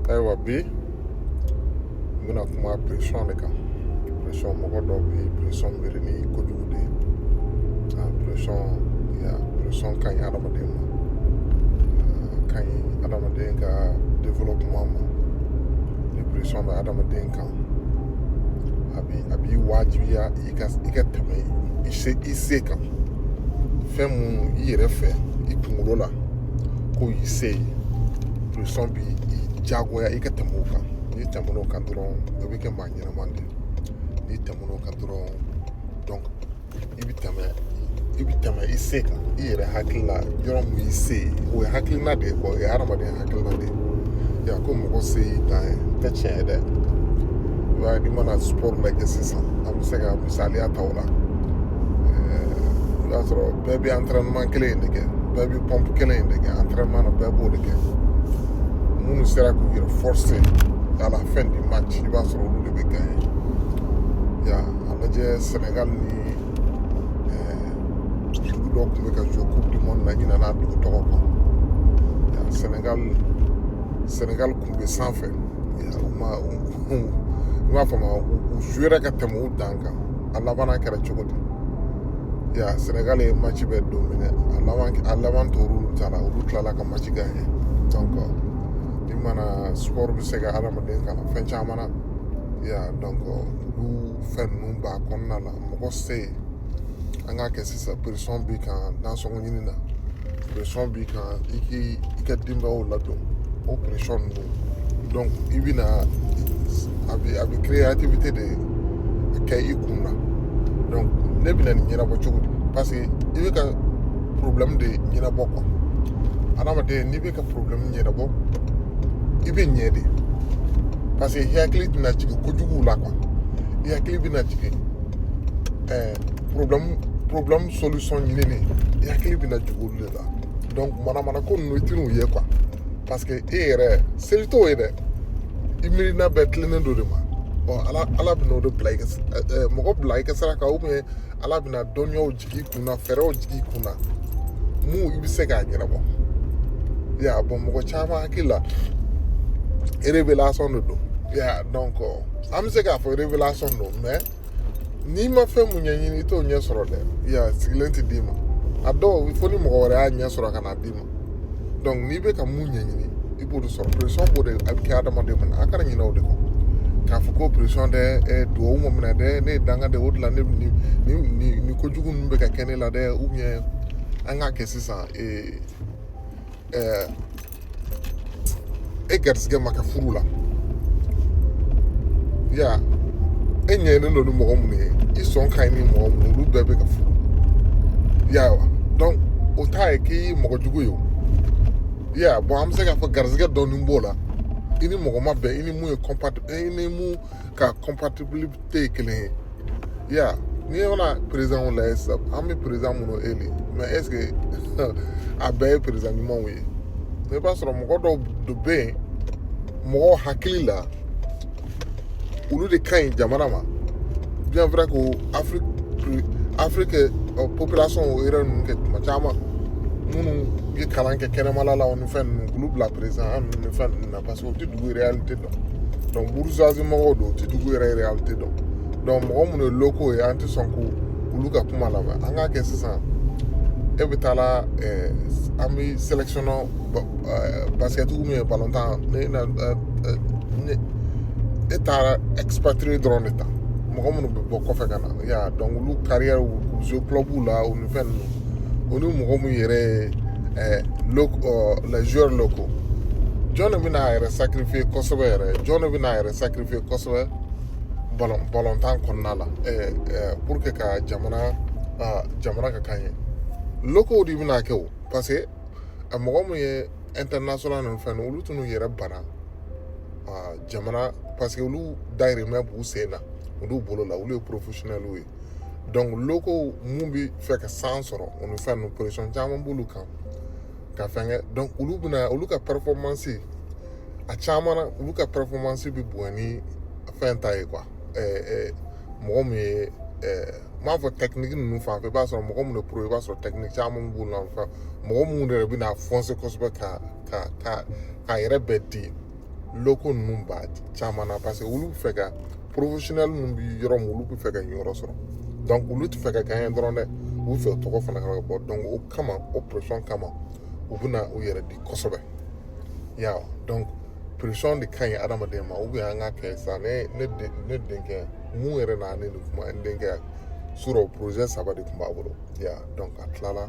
ayiwa bi n bɛna kuma pression de kan pression mɔgɔ dɔw bɛ pression miiri ni kojugu de ye a pression ya pression ka ɲi adamaden ma ka ɲi adamaden ka développement ma ni pression bɛ adamaden kan a bi a b'i wajibiya i ka i ka tɛmɛ i se i se kan fɛn minnu i yɛrɛ fɛ i kunkolo la ko y'i se ye pression b'i jagoya i ka tɛmɛ o kan n'i tɛmɛn'o kan dɔrɔn i bɛ kɛ maa ɲɛnama de ye n'i tɛmɛn'o kan dɔrɔn donc i bɛ tɛmɛ i bɛ tɛmɛ i se kan i yɛrɛ hakili la yɔrɔ min y'i se ye o ye hakilina de ye quoi o ye hadamaden hakilina de ye ya ko mɔgɔ se y'i dan ye o tɛ tiɲɛ ye dɛ i b'a ye n'i mana sport lajɛ sisan an bɛ se ka misaliya ta o la i b'a sɔrɔ bɛɛ bɛ entraînement kelen in de kɛ bɛɛ bɛ pompe kelen in de kɛ entraînement na bɛɛ b'o de kɛ minnu sera k'u yɛrɛ forcé à la fin du match i b'a sɔrɔ olu de bɛ gagné ya a lajɛ Sénégal ni dugu dɔ tun bɛ ka joué coupe du monde na ɲinana a dugu tɔgɔ kɔ ya Sénégal Sénégal tun bɛ sanfɛ ya u ma u u i b'a faamu u jouera ka tɛmɛ u dan kan a labanna kɛra cogo di ya senegal ye match bɛɛ dominé a laban a laban tor'olu ta la olu tilala ka match gagné donc i mana sport bɛ se ka adamaden kalan fɛn caman na ya donc olu fɛn ninnu b'a kɔnɔna la mɔgɔ se an k'a kɛ sisan pression b'i kan nasɔngɔ ɲini na pression b'i kan i k'i i ka denbayaw ladon o pression ninnu donc i bɛna a bɛ a bɛ créativité de kɛ i kun na donc ne bɛna nin ɲɛnabɔ cogo di parce que i bɛ ka problème de ɲɛnabɔ quoi adamaden n'i bɛ ka problème ɲɛnabɔ i bɛ ɲɛ de parce que i hakili tɛna jigin kojugu la quoi i hakili bɛna jigin ɛɛ problème problème solution ɲinini i hakili bɛna jigin olu de la donc manamana ko ninnu i tɛn'u ye quoi parce que e yɛrɛ seli t'o ye dɛ i miirina bɛɛ tilennen dɔ de ma ɔ ala ala bɛna o de bila i ka mɔgɔ bila i ka sira kan ou bien ala bɛna dɔnniyaw jigin i kun na fɛɛrɛw jigin i kun na mun i bɛ se k'a ɲɛnabɔ ya bɔn mɔgɔ caman hakili la révélation de don ya donc an bɛ se k'a fɔ révélation don mais n'i ma fɛn mun ɲɛɲini i t'o ɲɛ sɔrɔ dɛ ya sigilen tɛ d'i ma a dɔw fo ni mɔgɔ wɛrɛ y'a ɲɛ sɔrɔ ka na d'i ma donc n'i bɛ ka mun ɲɛɲini i b'o de sɔrɔ pression b'o de a bɛ kɛ adamaden mun na a kana ɲinɛ o de kɔ k'a fɔ ko pression dɛ ɛ duwawu ma minɛ dɛ ne ye danga de o de la ne ni ni ni ni kojugu ninnu bɛ ka kɛ ne la dɛ ou bien an k'a kɛ sisan ee ɛɛ e garisigɛ ma kɛ furu la ya e ɲɛnen don ni mɔgɔ minnu ye i sɔn ka ɲi ni mɔgɔ minnu olu bɛɛ bɛ ka furu ya wa donc o t'a ye k'i ye mɔgɔ jugu ye o ya bon an bɛ se k'a fɔ garisigɛ dɔɔni b'o la i ni mɔgɔ ma bɛn i ni mun ye compatible i ni mun ka compatibilité kelen ye ya n'i ye fana présidentw lajɛ sisan an bɛ président minnu élire mais est ce que a bɛɛ ye président ɲumanw ye i b'a sɔrɔ mɔgɔ dɔw de bɛ yen mɔgɔw hakili la olu de ka ɲi jamana ma bien vrai ko afiriki afiriki population yɛrɛ ninnu kɛ tuma caman minnu ye kalan kɛ kɛnɛmala la ni fɛn ninnu k'olu bila président ninnu ni fɛn ninnu na parce que u tɛ dugu réalité dɔn donc bourgeoisie mɔgɔw don u tɛ dugu yɛrɛ réalité dɔn donc mɔgɔ minnu ye locaux ye an tɛ sɔn k'olu ka kuma lamɛn an k'a kɛ sisan e bɛ taa la eh, an bɛ sélectionner eh, basket ou bien balɔntan ne na eh, eh, ne e taara expatrié dɔrɔn de ta mɔgɔ minnu bɛ bɔ kɔfɛ ka na ya donc olu carrière u jouer club la u ni fɛn ninnu o ni mɔgɔ minnu yɛrɛ ye les joueurs locaux jɔn de bɛna a yɛrɛ sacrifier kosɛbɛ yɛrɛ jɔn de bɛna a yɛrɛ sacrifier kosɛbɛ balɔntan kɔnɔna la pour que ka jamana jamana ka gagner locaux de bɛna kɛ o parce que a mɔgɔ minnu ye international ni fɛn olu tɛn'u yɛrɛ bana jamana parce que olu dayirimɛ b'u sen na olu bolo la olu ye professionnels ye donc locaux mun bɛ fɛ ka chance sɔrɔ o ni fɛn ninnu pression caman b'olu kan ka fɛn kɛ donc olu bɛna olu ka performance a caman na olu ka performance bɛ bonya ni fɛn ta ye quoi ɛɛ ɛɛ mɔgɔ min ye ɛɛ n b'a fɔ technique ninnu fan fɛ i b'a sɔrɔ mɔgɔ minnu bɛ pro i b'a sɔrɔ technique caman b'u la fɛn mɔgɔ minnu yɛrɛ bɛna foncer kosɛbɛ ka ka ka k'a yɛrɛ bɛɛ di locaux ninnu b'a caman na parce que olu bɛ fɛ ka professionnel ninnu bɛ yɔrɔ min olu bɛ fɛ ka yɔrɔ sɔrɔ donc olu tɛ fɛ ka gagner dɔrɔn dɛ u bɛ fɛ tɔgɔ fana ka bɔ donc o kama o pression kama u bɛna u yɛrɛ di kosɛbɛ ya donc pression de ka ɲi adamaden ma ou bien an k'a kɛ sa ne ne ne denkɛ mun yɛrɛ na ne nin kuma n denkɛ surɔ projet saba de tun b'a bolo ya donc a tilala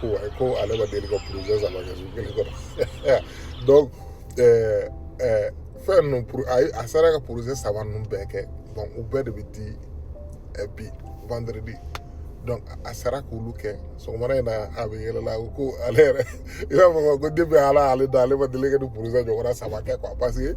ko wayi ko ale ma deli ka projet saba kɛ su kelen kɔnɔ donc ɛɛ ɛɛ fɛn ninnu pour a ye a sera ka projet saba ninnu bɛɛ kɛ bon u bɛɛ de bɛ di ɛ bi vendredi donc a sera k'olu kɛ sɔgɔmada in na a bɛ yɛlɛla a ko ko ale yɛrɛ i b'a fɔ ko depuis ala y'ale da ale ma deli ka nin projet ɲɔgɔnna saba kɛ quoi parce que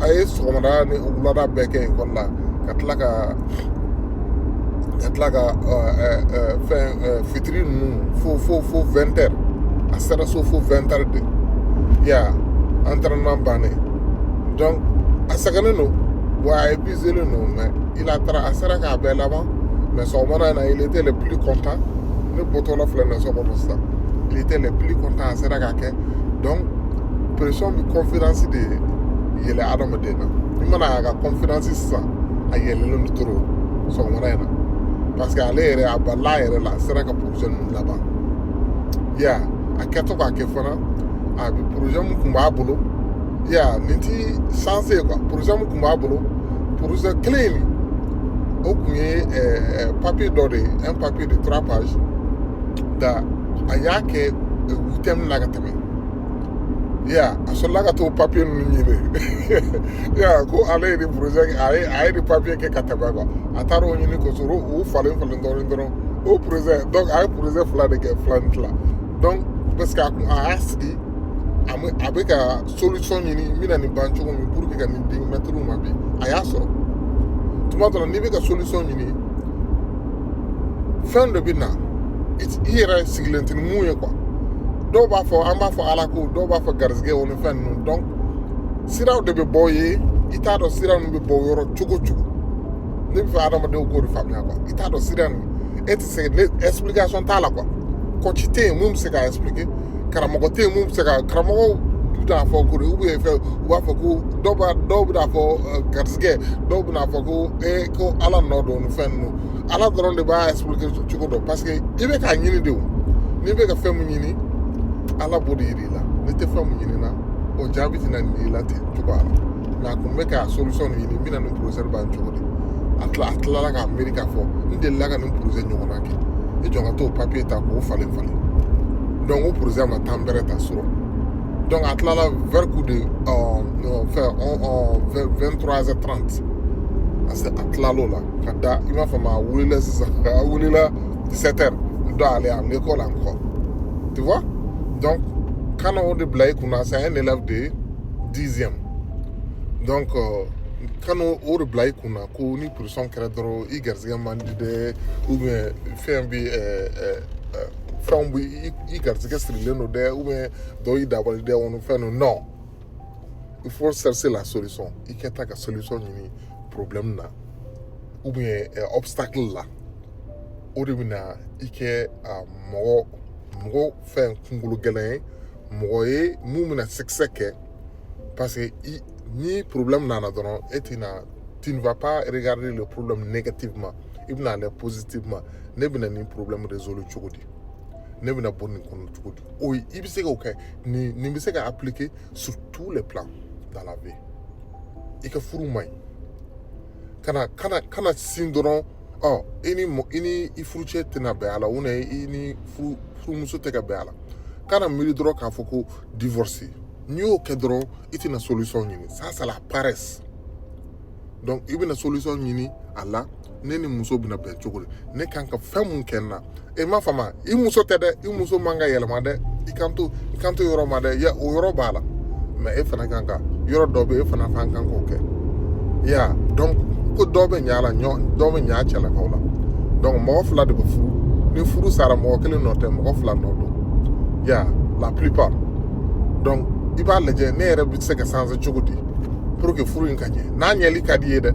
a ye sɔgɔmada ni wulada bɛɛ kɛ ekɔli la ka tila ka ka tila ka fɛn fitiri ninnu fo fo fo vingt heures a sera so fo vingt heures de ya entraînement bannen donc a sɛgɛnnen don wa a épuiselen don mais il a taara a sera k'a bɛɛ laban mais sɔgɔmada in na il était le plus content ne bɔtɔla filɛ nin ye so kɔnɔ sisan il était le plus content a sera k'a kɛ donc pression bɛ confidence de yɛlɛ adamaden na i mana a ka confidence sisan a yɛlɛlen don trop sɔgɔmada in na parce que ale yɛrɛ a balila a yɛrɛ la a sera ka projet ninnu laban ya a kɛtɔ k'a kɛ fana a bɛ projet min tun b'a bolo ya nin tɛ chance ye quoi projet min tun b'a bolo projet kelen in o tun ye ɛɛ papier dɔ de ye un papier de trois pages da a y'a kɛ huitième na ka tɛmɛ ya a sɔrɔla ka t'o papier ninnu ɲini ya ko ale ye nin projet a ye a ye nin papier kɛ ka tɛmɛ quoi a taara o ɲini k'o sɔrɔ o falen falen dɔɔnin dɔrɔn o projet donc a ye projet fila de kɛ fila ni tila donc parce que a kun a y'a sigi a bɛ a bɛ ka solution ɲini n bɛna nin ban cogo min pour que ka nin di mɛtiriw ma bi a y'a sɔrɔ tuma dɔ la n'i bɛ ka solution ɲini fɛn dɔ bɛ na i yɛrɛ sigilen tɛ ni min ye quoi dɔw b'a fɔ an b'a fɔ ala ko dɔw b'a fɔ garizigɛ o ni fɛn ninnu donc siraw de bɛ bɔ ye i t'a dɔn sira ninnu bɛ bɔ yɔrɔ cogo cogo ne b'a fɛ adamadenw k'o de faamuya quoi i t'a dɔn sira ninnu e tɛ se explication t'a la quoi coach tɛ yen min bɛ se k'a expliquer karamɔgɔ tɛ yen min bɛ se ka karamɔgɔw bɛ t'a fɔ ko di ou bien fɛn u b'a fɔ ko dɔw b'a dɔw bɛna fɔ garisɛgɛ dɔw bɛna fɔ ko ee ko ala nɔ don ni fɛn ninnu ala dɔrɔn de b'a expliquer cogo dɔn parce que i bɛ k'a ɲini de o n'i bɛ ka fɛn min ɲini ala b'o de yir'i la n'i tɛ fɛn min ɲini na o jaabi tɛna nin y'i la ten cogoya la mais a kun bɛ ka solution de ɲini n bɛna nin projet ban cogo di a tila a tilala k'a miiri k'a fɔ n delila ka nin projet ɲɔgɔnna kɛ i jɔ ka t'o papier ta k'o falen falen donc o projet ma temps bɛrɛ ta sɔrɔ donc a tilala vers coup de fɛn 23h30 a se a tilal'o la ka da i b'a faamu a wulila sisan a wulila 17h doit aller à l'école encore tu vois donc kana o de bila i kunna c'est un élève de dixième donc euh, kana o de bila i kunna ko ni pression kɛra dɔrɔn i garisɛgɛ man di dɛ ou bien fɛn bi eh, eh, eh, fɛnw bi i garisɛgɛ sirilen don dɛ ou bien dɔ y'i dabali dɛ o ni fɛn ninnu non il faut chercher la solution i kɛtɔ ka solution ɲini problème na ou bien obstacle la o de bɛna i kɛ mɔgɔ mɔgɔ fɛn kunkolo gɛlɛn ye mɔgɔ ye mun bɛna succès kɛ parce que ni problème nana dɔrɔn e ti na tu ne vas pas regarder le problème négativement i bɛna lɛ positivement ne bɛna nin problème résoudre cogo di ne bɛna bɔ nin kɔnɔ cogo di o i bɛ se k'o kɛ nin nin bɛ se ka appliquer sur tous les plans dans la vie i ka furu man ɲi kana kana kana sin dɔrɔn ɔ i ni i ni i furucɛ tɛna bɛn a la u na i ni furu furumuso tɛ ka bɛn a la kana miiri dɔrɔn k'a fɔ ko divorce n'i y'o kɛ dɔrɔn i tɛna solution ɲini ça c'est la paresse donc i bɛna solution ɲini a la ne ni muso bɛna bɛn cogo di ne kan ka fɛn mun kɛ n na e m'a faamu i muso tɛ dɛ i muso man ka yɛlɛma dɛ i kan to i kan to yɔrɔ ma dɛ ya o yɔrɔ b'a la mais e fana kan ka yɔrɔ dɔ bɛ e fana kan kan k'o kɛ ya donc ko dɔ bɛ ɲa la ɲɔ dɔ bɛ ɲa cɛlakaw la donc mɔgɔ fila de bɛ furu ni furu sara mɔgɔ kelen nɔ tɛ mɔgɔ fila nɔ don ya la plupart donc i b'a lajɛ ne yɛrɛ bɛ se ka changer cogo di pour que furu in ka ɲɛ n'a ɲɛli ka d'i ye dɛ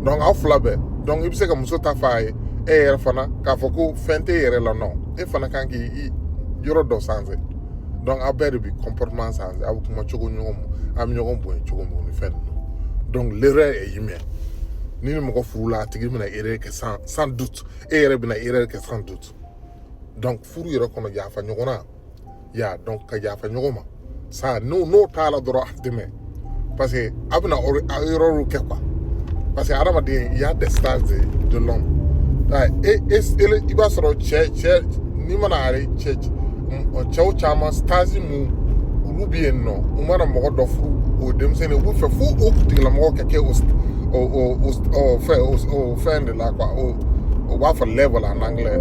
donc aw fila bɛɛ donc i bɛ se ka muso ta f'a ye e yɛrɛ fana k'a fɔ ko fɛn t'e yɛrɛ la non e fana kan k'i yɔrɔ dɔ changer donc aw bɛɛ de bi comportement changer aw bɛ kuma cogo ɲɔgɔn ma aw bɛ ɲɔgɔn bonya cogo mun ni fɛn ninnu donc l'erreur est humaine ni ni mɔgɔ furu la a tigi bɛna erreur kɛ sans sans doute e yɛrɛ bɛna erreur kɛ sans doute donc furu yɛrɛ kɔnɔ yafa ɲɔgɔn na ya donc ka yafa ɲɔgɔn ma ça n'o n'o t'a la dɔrɔn a tɛ mɛɛn parce que a bɛna erreur kɛ quoi parce que hadamaden il y a des stages de de l'homme e e i b'a sɔrɔ cɛ cɛ n'i mana are cɛ cɛw caman stage mun olu bɛ yen nɔ u mana mɔgɔ dɔ furu o denmisɛnnin u bɛ fɛ fo o tigilamɔgɔ ka kɛ o o o fɛn o fɛn de la quoi o o b'a fɔ level en anglais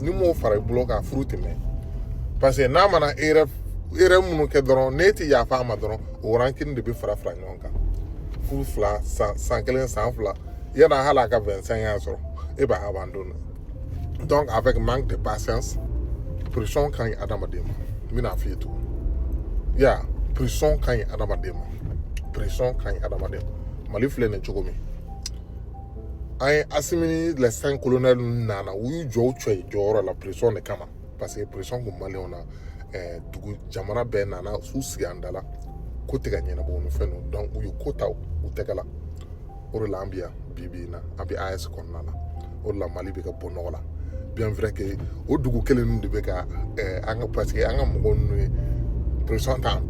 n'i m'o fara i bolo kan furu tɛ mɛɛn parce que n'a mana erreur erreur minnu kɛ dɔrɔn n'e ti yafa a ma dɔrɔn o rancune de bɛ fara fara ɲɔgɔn kan furu fila san san kelen san fila yanni hali a ka vingt-cinq ans sɔrɔ e b'a abandon donc avec manque de patience pression ka ɲi adamaden ma n bɛna f'i ye tugun ya pression ka ɲi adamaden ma pression ka ɲi adamaden ma mali filɛ nin cogo min an ye asimi ni les cinq colonels ninnu nana u y'u jɔ u cɛya jɔyɔrɔ la pression de kama parce que pression kun maliyɛnw na eh, dugu jamana bɛɛ nana s'u sigi an da la ko tɛ ka ɲɛnabɔ ni fɛn ninnu donc u ye ko ta u tɛgɛ la o de la an bi yan bi bi in na an bi AES kɔnɔna la o de la mali bɛ ka bɔ nɔgɔ la bien vrai que o dugu kelen ninnu de bɛ ka eh, an ka parce que an ka mɔgɔ ninnu ye pression ta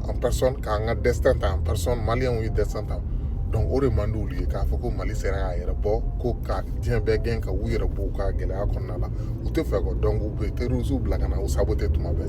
en personne k'an ka destin ta en personne maliyɛnw ye destin ta donc o de man d'olu ye k'a fɔ ko mali sera k'a yɛrɛ bɔ ko ka diɲɛ bɛɛ kan ka u yɛrɛ bɔ u ka gɛlɛya kɔnɔna la u tɛ fɛ kɔ donc u bɛ terrorisiw bila ka na u saboter tuma bɛɛ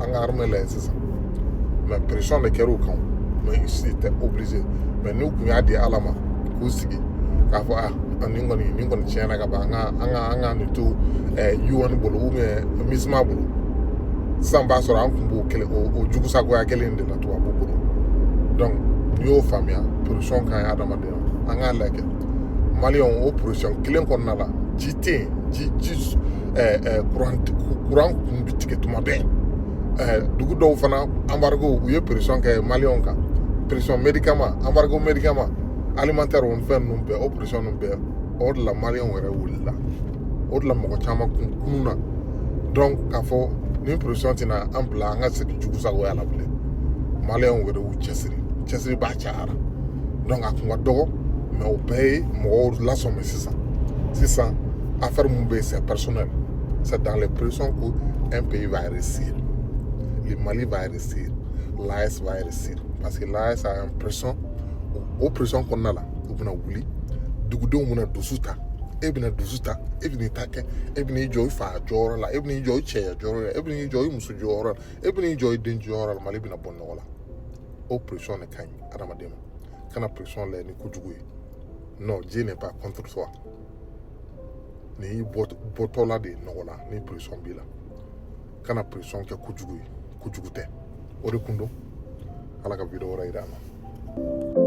an ka armée lajɛ sisan mais pression de kɛra u kan mais ils étaient obligés mais n'u kun y'a di ala ma k'u sigi k'a fɔ a ah, nin kɔni nin kɔni tiɲɛna ka ban an ka an ka an ka nin to eh, UN bolo ou bien MISMA bolo sisan b'a sɔrɔ an kun b'o kelen o jugusagoya kelen de la tubabu bolo donc n'i y'o faamuya pression ka ɲi adamadenya an k'a lajɛ mali o pression kelen kɔnɔna la ji tɛ yen ji ji kuran kuran kun bɛ tigɛ tuma bɛɛ dugu dɔw fana embargo u ye pression kɛ maliyɛnw kan pression médicament embargo médicament alimentaire o fɛn ninnu bɛɛ o pression ninnu bɛɛ o de la maliyɛnw yɛrɛ wulila o de la mɔgɔ caman kun kununna donc k'a fɔ nin pression tɛna an bila an ka segin jugusagoya la bilen maliyɛnw yɛrɛ y'u cɛsiri cɛsiribaa cayara donc a kun ka dɔgɔ mais o bɛɛ ye mɔgɔw lasɔmi sisan sisan affaire mun bɛ yen c'est personnel c'est dans les pressions qu'un pays va réussir le Mali va réussir l'AES va réussir parce que l'AES a une pression o pression kɔnɔna la u bɛna wuli dugudenw bɛna dusu ta e bɛna dusu ta e bɛna i ta kɛ e bɛna i jɔ i fa jɔyɔrɔ la e bɛna i jɔ i cɛya jɔyɔrɔ la e bɛna i jɔ i muso jɔyɔrɔ la e bɛna i jɔ i den jɔyɔrɔ la mali bɛna bɔ nɔgɔ la o pression de ka ɲi adamaden ma kana pression lajɛ ni kojugu ye non Dieu n'est pas contre toi nin y'i bɔtɔla de ye nɔgɔ la ni pression b'i la kana pression kɛ kojugu ye kojugu tɛ o de kun don ala ka video wɛrɛ yira an na